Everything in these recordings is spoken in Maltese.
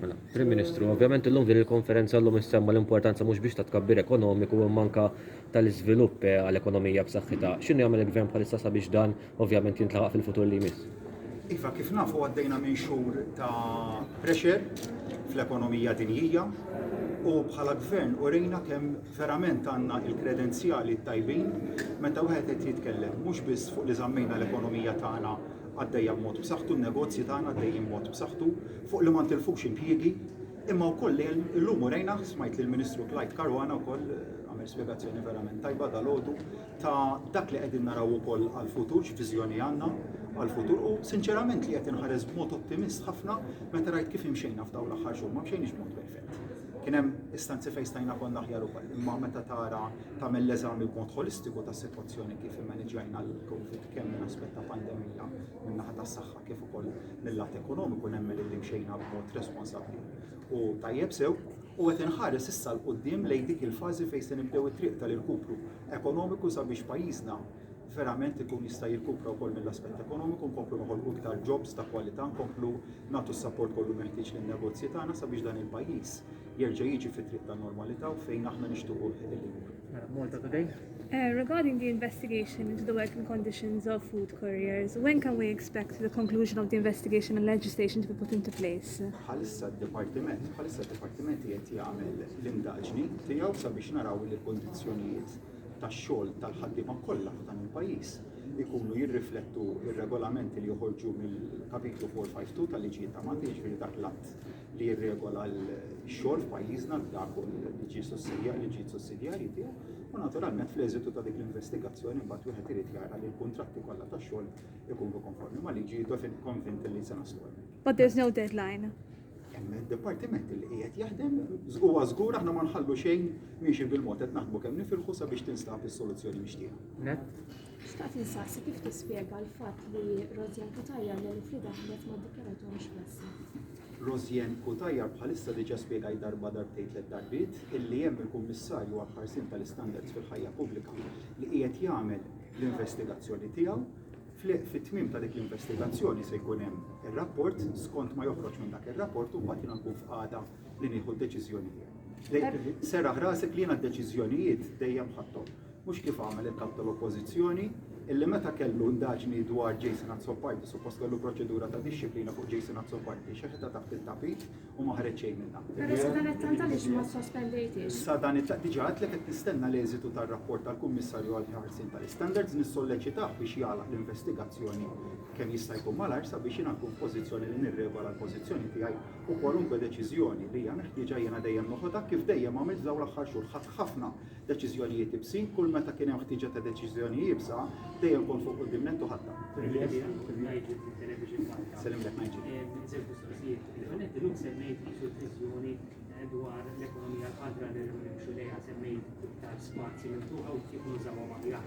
Mela, Prim Ministru, ovvjament illum din il-konferenza llum issemma l-importanza mhux biex ta' tkabbir ekonomiku imma anka tal-iżvilupp eh, għal ekonomija b'saħħitha. X'inhu jagħmel il-Gvern bħalissa sabiex dan ovvjament jintlaħaq fil-futur li jmiss? Iva, kif nafu għaddejna minn xhur ta' pressure fl-ekonomija dinjija u bħala gvern u rejna kemm verament għandna il-kredenzjali tajbin meta wieħed qed jitkellem mhux biss fuq li żammejna l-ekonomija tagħna għaddejja b'mod b'saħħtu, n-negozji tagħna għaddejjin b'mod b'saħħtu, fuq li ma ntilfux impjiegi, imma wkoll li llum urejna, smajt lill-Ministru Clyde Caruana wkoll għamel spjegazzjoni verament tajba dalgħodu ta' dak li qegħdin naraw ukoll għall-futur, x'viżjoni għandna għall-futur u sinċerament li qed inħares b'mod ottimist ħafna meta rajt kif imxejna f'dawn l-aħħar xhur, ma mxejniex b'mod perfett. Kien hemm istanzi fejn stajna konna aħjar ukoll, imma meta tara tagħmel l-eżami b'mod ħolistiku tas-sitwazzjoni kif immaniġġajna l-COVID kemm minn aspett ta' pandemija min-naħa tas-saħħa kif ukoll mill-lat ekonomiku nemmen li mxejna b'mod responsabbli u tajjeb sew u qed inħares issa l qudiem lejn dik il-fażi fejn se nibdew it-triq tal-irkupru ekonomiku sabiex pajjiżna verament ikun jista' jirkupra wkoll mill-aspett ekonomiku, nkomplu noħolqu iktar jobs ta' kwalità, nkomplu nagħtu s-sapport kollu meħtieġ lin-negozji tagħna sabiex dan il-pajjiż jerġa' jiġi fi triq ta' normalità u fejn aħna nixtuquh illi jmur. Regarding the investigation into the working conditions of food couriers, when can we expect the conclusion of the investigation and legislation to be put into place? Bħalissa d-Dipartiment, bħalissa d-Dipartiment qed jagħmel l-indaġni tiegħu sabiex naraw li l-kondizzjonijiet tax-xogħol tal-ħaddiema kollha ta' dan il-pajjiż ikunu jirriflettu r-regolamenti li joħorġu mill-Kapitlu 452 tal-Liġijiet ta' Malta jiġifieri dak l-att li jirregola l-xogħol f'pajjiżna dak u li ġie sussidjar li ġiet sussidjarji tiegħu u naturalment fl-eżitu ta' dik l-investigazzjoni mbagħad wieħed irid jara li l-kuntratti kollha ta' xogħol ikunu konformi ma' liġi jidofin konvint li se naslu But there's no deadline. Hemm id-dipartiment li qiegħed jaħdem huwa żgur aħna ma nħallu xejn miexi bil-mod qed naħdmu kemm nifilħu sabiex tinstab is-soluzzjoni mixtieqa. Xtaqt insaqsi kif tispjega l-fatt li Rosien Cutajar li l-fri daħlet ma ddikjarathomx klassi. Rosien Cutajar bħalissa diġà spjegajt darba darbtejn tliet darbiet illi hemm il-Kummissarju għall-Ħarsien tal-Istandards fil-Ħajja Pubblika li qiegħed jagħmel l-investigazzjoni tiegħu. Fit-tmiem ta' dik l-investigazzjoni se jkun hemm ir-rapport, skont ma joħroġ minn dak ir-rapport u mbagħad jiena nkun f'qagħda li nieħu d-deċiżjonijiet. Seraħ rasek li jiena d-deċiżjonijiet dejjem ħadthom. Mhux kif għamel il-kap tal-Oppożizzjoni illi meta kellu ndaġni dwar Jason Azzopardi, suppost kellu proċedura ta' disċiplina fuq Jason Azzopardi, xeħta taħt il-tapit u maħreċ xejn minna. Pero sa dan it-tant għaliex ma sospendejti. Sa dan it-tant diġa għatlek qed nistenna l-eżitu tar-rapport tal-Kummissarju għal ħarsin tal-standards nissolleċitah biex jagħlaq l-investigazzjoni kemm jista' jkun malar sabiex jingħaqu pożizzjoni li nirregola l-pożizzjoni tiegħi u kwalunkwe deċiżjoni li hija meħtieġa jiena dejjem noħodha hekk kif dejjem għamilt f'dawn l-aħħar xhur. Ħadt ħafna deċiżjonijiet ibsin, kull meta kien hemm ħtieġa ta' deċiżjoni iebsa, dejjem kont fuq quddiem nett u ħadtha. Sellimlek Nigel. Żewġ mistoqsijiet. L-ewwel nett illum semmejt isu l-viżjoni dwar l-ekonomija l-ħadra li rridu nimxu lejha, semmejt iktar spazji miftuħa u kif nużawhom aħjar.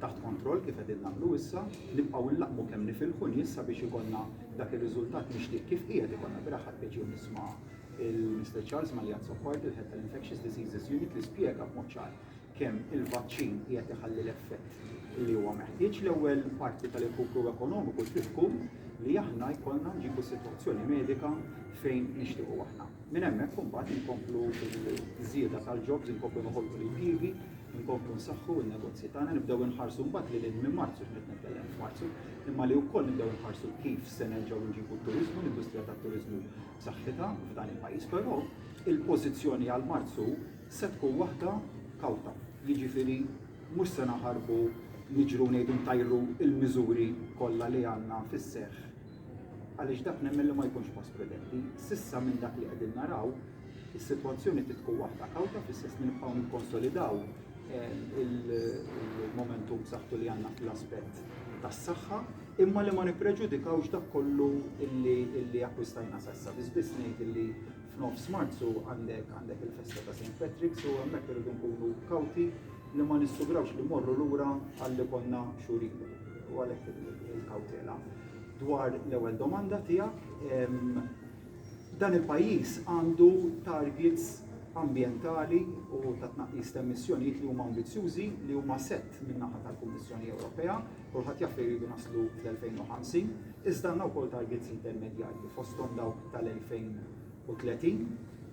taħt kontroll kif qegħdin nagħmlu issa, nibqgħu nlaqqmu kemm nifilħu nies sabiex ikollna dak ir-riżultat mixtieq kif qiegħed ikollna beraħ ħadt pjaċir nisma' il-Mister Charles Magliazzo Pardi, il-Head tal-Infectious Diseases Unit li spjega b'mod ċar kemm il-vaċċin qiegħed iħalli l-effett li huwa meħtieġ l-ewwel parti tal-irkupru ekonomiku trid tkun li aħna jkollna nġibu sitwazzjoni medika fejn nixtiequ aħna. Minn hemmhekk imbagħad inkomplu l-żieda tal-jobs, inkomplu noħolqu l-impjiegi, Inkomplu nsaħħu n-negozji tagħna, nibdew inħarsu mbagħad li lil minn Marzu, x'qed nitkellem f'Marzu, imma li wkoll nibdew inħarsu kif se nerġgħu nġibu t-turiżmu, l-industrija tat-turiżmu b'saħħitha f'dan il-pajjiż, però il-pożizzjoni għal Marzu se tkun waħda kawta. Jiġifieri mhux se naħarbu niġru ngħidu ntajru l-miżuri kollha li għandna fis-seħħ għaliex dak nemmen li ma jkunx pass prudenti. S'issa minn dak li qegħdin naraw, is-sitwazzjoni trid tkun waħda kawta fl-istess li nibqgħu nikkonsolidaw eh, il-momentum b'saħħtu li għandna fl-aspett tas-saħħa, imma li ma nippreġudikawx dak kollu illi akkwistajna sassa. Biss ngħid illi f'nofs Marzu għandek għandek il-festa ta' St. Patrick's u hemmhekk irridu nkunu kawti li ma nissugrawx li mmorru lura għal li konna xhur ilu. U għalhekk il-kawtela. Dwar l-ewwel domanda tiegħek, dan il-pajjiż għandu targets ambjentali u ta' tnaqqis ta' emissjonijiet li huma ambizzjużi li huma sett min-naħa tal-Kummissjoni Ewropea, kulħadd jaf li jridu naslu fl-2050, iżda għandna wkoll targets intermedjarji fosthom dawk tal-2030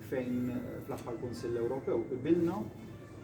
fejn fl-aħħar Kunsill Ewropew qbilna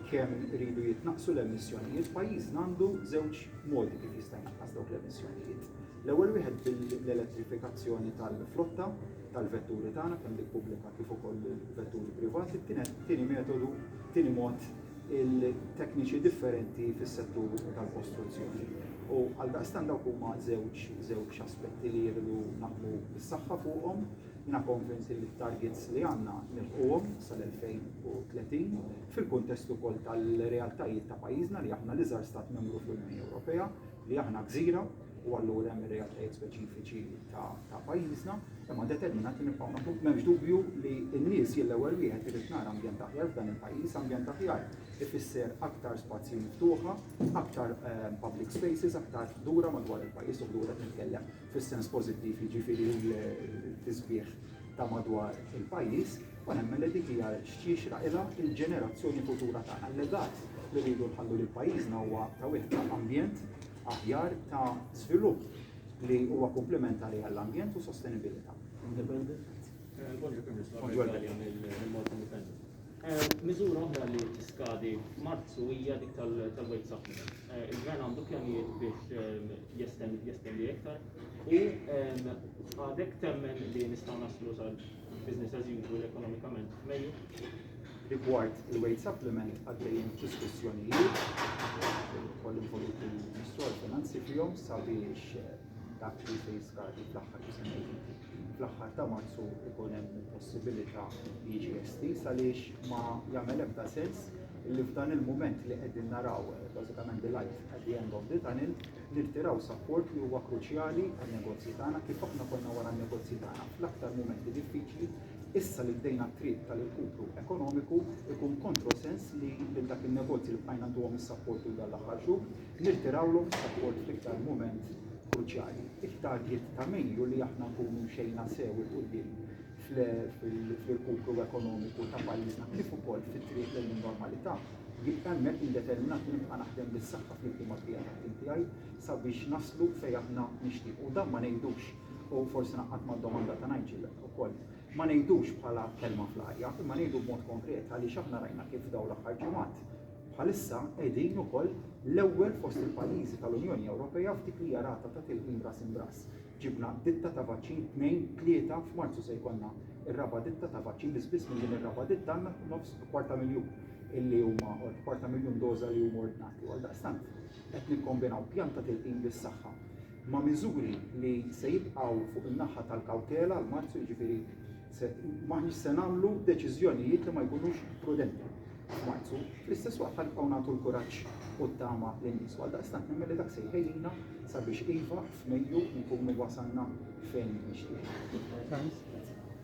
kemm iridu jitnaqqsu l-emissjonijiet, pajjiżna għandu żewġ modi kif jista' jnaqqas dawk l-emissjonijiet. L-ewwel wieħed bil-elettrifikazzjoni tal-flotta tal-vetturi tagħna kemm dik pubblika kif ukoll vetturi privati, tieni metodu, tieni mod il-tekniċi differenti fis-settur tal-kostruzzjoni. U għal daqstan dawk huma żewġ żewġ aspetti li jridu naħdmu bis-saħħa fuqhom Jiena konvinti li t-targets li għandna nilħquhom sal-2030, fil-kuntest ukoll tal-realtajiet ta' pajjiżna li aħna l-iżgħar Stat Membru fl-Unjoni Ewropea, li aħna gżira u allura hemm ir-realtajiet speċifiċi ta' pajjiżna, imma determinati nibqgħu naħdmu. M'hemmx dubju li n-nies jien l-ewwel wieħed irrid nara ambjent aħjar f'dan il-pajjiż, ambjent aħjar ifisser aktar spazji miftuħa, aktar public spaces, aktar ħdura madwar il-pajjiż u ħdura qed nitkellem fis-sens pożittiv, jiġifieri l-tisbiħ ta' madwar il-pajjiż, u nemmen li dik hija x'jixraq ilha l-ġenerazzjoni futura tagħna. L-legat li rridu nħallu lil pajjiżna huwa ta' wieħed ta' ambjent aħjar ta' żvilupp li huwa kumplimentari għall-ambjent u sostenibilità. Miżura oħra li tiskadi f'Marzu hija dik tal-wage supplement. Il-Gvern għandu pjanijiet biex jestendi iktar u għadek temmen li nistgħu naslu sal business as usual ekonomikament meglio. Rigward il-weight supplement għaddejjin diskussjonijiet koll involuti l-Ministru għal-Finanzi fihom sabiex eh, dak li se jiskardi fl-aħħar jisimgħu fl-aħħar ta' Marzu ikun hemm il-possibilità li jiġi estiż għaliex ma jagħmel ebda sens li f'dan il-mument li qegħdin naraw eh, bażikament the light at the end of the tunnel nirtiraw sapport li huwa kruċjali għan-negozji tagħna kif aħna konna wara n-negozji tagħna fl-aktar mumenti diffiċli issa li bdejna t-triq tal-irkupru ekonomiku ikun kontrosens li lil dak in-negozji li bqajna ntuhom is-sapport tul dan l-aħħar xhur Nirtirawlu s-sapport fl-iktar mument kruċjali. It-target ta' min hu li aħna nkunu mxejna sew 'il quddiem fl-irkupru ekonomiku ta' pajjiżna kif ukoll fit-triq lejn in-normalità. Jien hemmhekk jien determinat li nibqa' naħdem bis-saħħa flimkien mal-bqija tat-tim tiegħi sabiex naslu fejn aħna nixtiequ. U dan ma ngħidux, u forsi naqgħad mad-domanda ta' Nigel ukoll, ma ngħidux bħala kelma fl-arja, imma ngħidu b'mod konkret għaliex aħna rajna kif f'dawn l-aħħar ġimgħat Bħalissa qegħdin ukoll l-ewwel fost il-pajjiżi tal-Unjoni Ewropea f'dik li hija rata ta' tilqim ras imbrass. Ġibna ditta ta' vaċċin tnejn, tlieta, f'Marzu se jkollna r-raba' ditta ta' vaċċin biss biss minn din ir-raba' ditta għandna nofs kwarta miljun illi huma kwarta miljun doża li huma ordnati. Għaldaqstant qed nikkombinaw pjan ta' tilqim bis-saħħa ma' miżuri li se jibqgħu fuq in-naħa tal-kawtela għal Marzu jiġifieri maħniex se nagħmlu deċiżjonijiet li ma jkunux prudenti. f'Marzu, fl-istess waqt ħanibqgħu nagħtu l-kuraġġ u t-tama lin-nies. Għaldaqstant nemmen li dak se jħejjina sabiex iva f'Mejju nkunu wasalna fejn nixtieq. Thanks.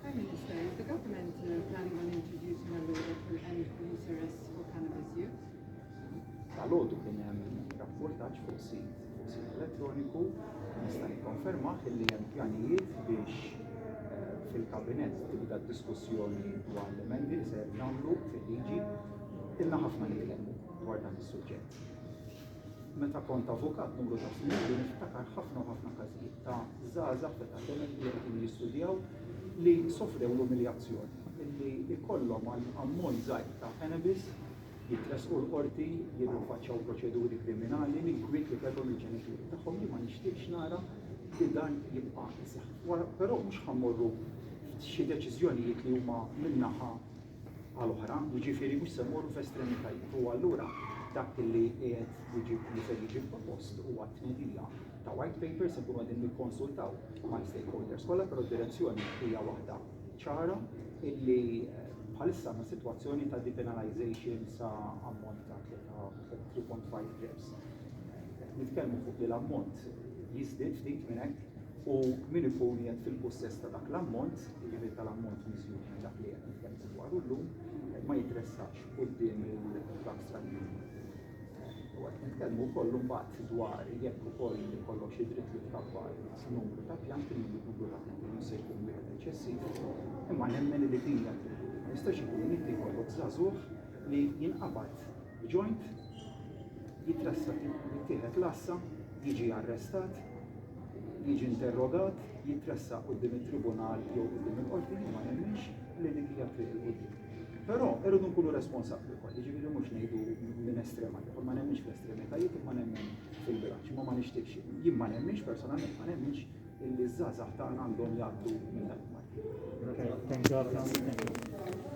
Prime Minister, is the government uh, planning on introducing a law that will end police arrests for cannabis use? Tal-għodu kien hemm rapportaġġ fuq sit Sid elettroniku nista' nikkonfermah illi hemm pjanijiet biex fil-Kabinett tibda d-diskussjoni dwar l-emendi li ser nagħmlu fil-liġi. Ilna ħafna nitkellmu dwar dan is-suġġett. Meta kont avukat numru ta' snin li niftakar ħafna u ħafna każijiet ta' żgħażagħ ta' talent li qed jistudjaw li sofrew l-umiljazzjoni illi jkollhom għal ammont żgħir ta' cannabis jitressqu l-Qorti, jirrifaċċaw proċeduri kriminali minkwiet li kellhom il-ġenituri tagħhom. Jien ma nixtieqx nara li dan jibqa' jseħħ. Wara però mhux ħammorru xi deċiżjonijiet li huma min-naħa għal oħra, jiġifieri mhux se mmorru f'estremitajiet. U allura dak li qiegħed jiġi li se jiġi propost huwa tnedija ta' white papers ikunu qegħdin nikkonsultaw mal-stakeholders kollha, però d-direzzjoni hija waħda ċara illi bħalissa għandna sitwazzjoni ta' depenalization sa ammont ta' 3.5 reps. Nitkellmu fuq li l-ammont jiżdied ftit minn hekk u min ikun jgħid fil-possess ta' dak l-ammont, jiġifieri tal-ammont miżjud minn dak li qed nitkellmu dwaru llum, ma jitressaqx quddiem il-Bank Stranier. U għet nitkellmu wkoll mbagħad dwar jekk ukoll ikollok xi dritt li tkabbar numru ta' pjanti, numru ta' pjanti mhux se jkun wieħed eċċessiv. Imma nemmen li din jistax ikun li inti jkollok żagħżugħ li jinqabad b'joint jitrassa jittieħed l-assa, jiġi arrestat, jiġi interrogat, jitressa qudiem it-tribunal jew qudiem il-qorti ma nemminx li dik hija triq il-qudiem. Però irridu nkunu responsabbli wkoll, jiġifieri mhux ngħidu minn estrema għal ieħor, ma nemminx fl-estremitajiet imma nemmen fil-bilanċ, imma ma nixtieqx. Jien ma nemminx personalment ma nemminx illi ż-żgħażagħ tagħna għandhom jgħaddu minn dan il-marki. Thank you.